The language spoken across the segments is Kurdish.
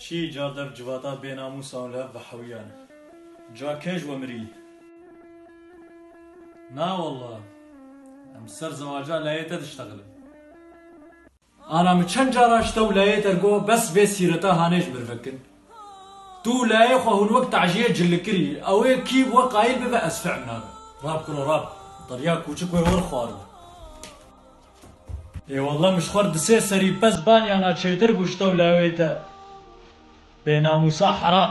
Çi ca dev civata bê namûsan lev bi hewiyan e. Ca kej we mirî. Na walla. Em ser zewaca leyê te diştexilin. Ana min çend car a ji te û leyê te got bes vê sîreta hanê ji mir vekin. Tu û leyê xwe hûn wek taciyê cili kirî. Ew ê kî bi we qayîl bibe ez fehm nabim. Rab kuro rab. Derya kûçik wê wir xwaribû. Ê wallah min ji xwe re di sê serî pez banyana çêtir bû ji tewla wê te bênamûsa heram.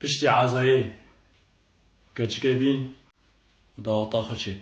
Piştî ezayê keçike bîn û da ota xwe çêk.